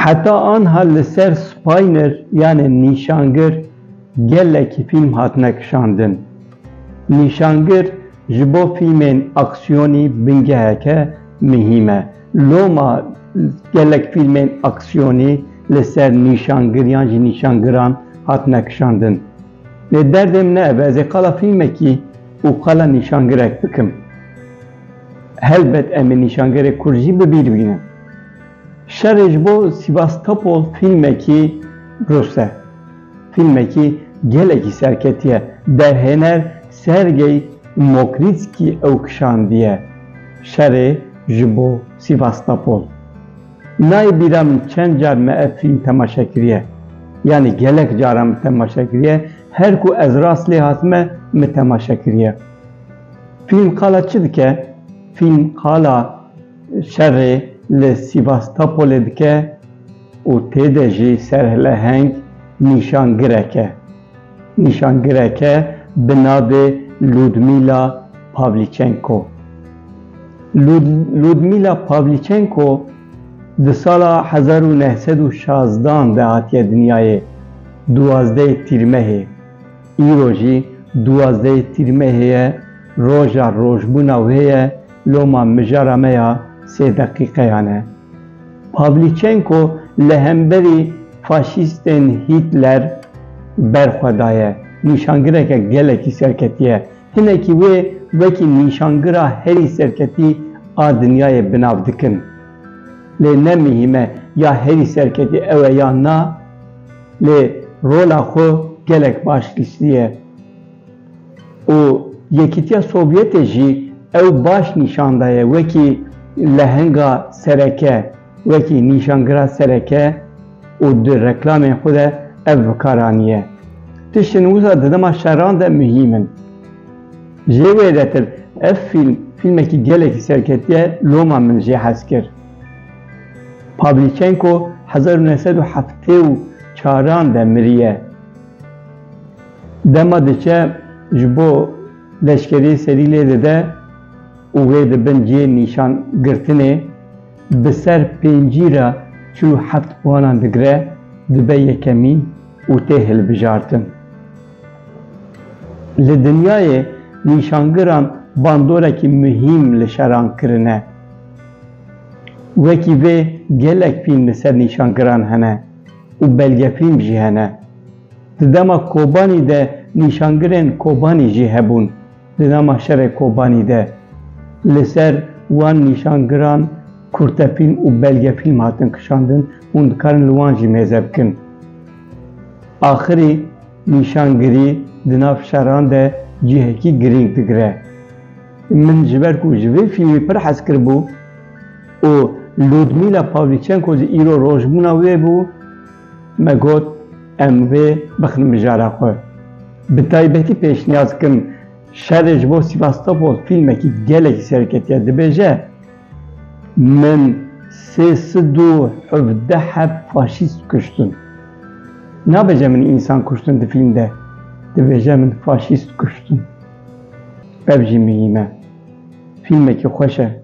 Heta anha li ser spayner yanê nîşangir gelekî fîlm hatine kişandin. Nîşangir ji bo fîlmên aksiyonî bingeheke mihîm e. Loma gelek fîlmên aksiyonî li ser nîşangir yan jî nîşangiran hatine kişandin. Lê derdê min ne ev e, ez ê qala fîlmekî û qala nîşangirek bikim. Helbet em ê nîşangerê kurd jî bi bîr bînin. Şerê ji bo Sîvastopol fîlmekî rûs e. Fîlmekî gelekî serketî ye. Derhêner Sergey Mokrîtskî ew kişandiye. Şerê ji bo Sîvastopol. Nayê bîra min çend car me ev fîlm temaşe kiriye. Yanî gelek caran min temaşe kiriye. Her ku ez rast lê hatime min temaşe kiriye. Fîlm qala çi dike? Fîlm qala şerê li Sîvastopolê dike û tê de jî serhileheng nîşangirek e. Nîşangireke bi navê Ludmîla Pavlîçenko Ludmîla Pavlîçenko di sala hezar û neh sed û şazdan de hatiye dinyayê, duwazdeh Tîrmehê. Îro jî duwazdeh Tîrmehê ye, roja rojbûna wê ye Loma mijara me ya sê deqîqeyan e. Pavlîçenko li hemberî faşîstên Hîtler ber xwe daye. Nîşangireke gelekî serketî ye. Hinekî wê wekî nîşangira herî serketî a dinyayê bi nav dikin. Lê ne mihîm e ya herî serketî ew e yan na, lê rola xwe gelek baş lîstiye. û Yekîtiya Sovyetê jî ew baş nîşan daye wekî lehenga sereke, wekî nîşangira sereke û di reklamên xwe de ev bikar aniye. Tiştên wisa di dema şeran de muhîm in. Jê wêdetir ev fîlm fîlmekî gelekî serketiye loma min jê hez kir. Pavlîçenko hezar û neh sed û heftê û çaran de miriye. Dema diçe ji bo leşkeriyê serî lê dide û wê di bin cihê nîşan girtinê bi ser pêncî re çil û heft wanan digire, dibe yekemîn û tê hilbijartin. Li dinyayê nîşangiran bandorekî muhîm li şeran kirine. Wekî vê gelek fîlm li ser nîşangiran hene û belgefîlm jî hene. Di dema Kobanî de nîşangirên Kobanî jî hebûn. Di dema şerê Kobanî de li ser wan nîşangiran kurtefîlm û belgefîlm hatin kişandin, hûn dikarin li wan jî mêze bikin. Axirî nîşangirî di nav şeran de cihekî girîng digire. Min ji ber ku ji vê fîlmî pir hez kiribû û Ludmila Pawlîçenko jî îro rojbûna wê bû, Me got em vê bixin mijara xwe. Bi taybetî pêşniyaz dikim şerê ji bo Sivastopol fîlmekî gelekî serketiye dibêje, Min sê sed û hevdeh heb faşîst kuştin. Nabêje min însan kuştin di fîlm de, dibêje min faşîst kuştin. Ev jî mihîm e. Fîlmekî xweş e.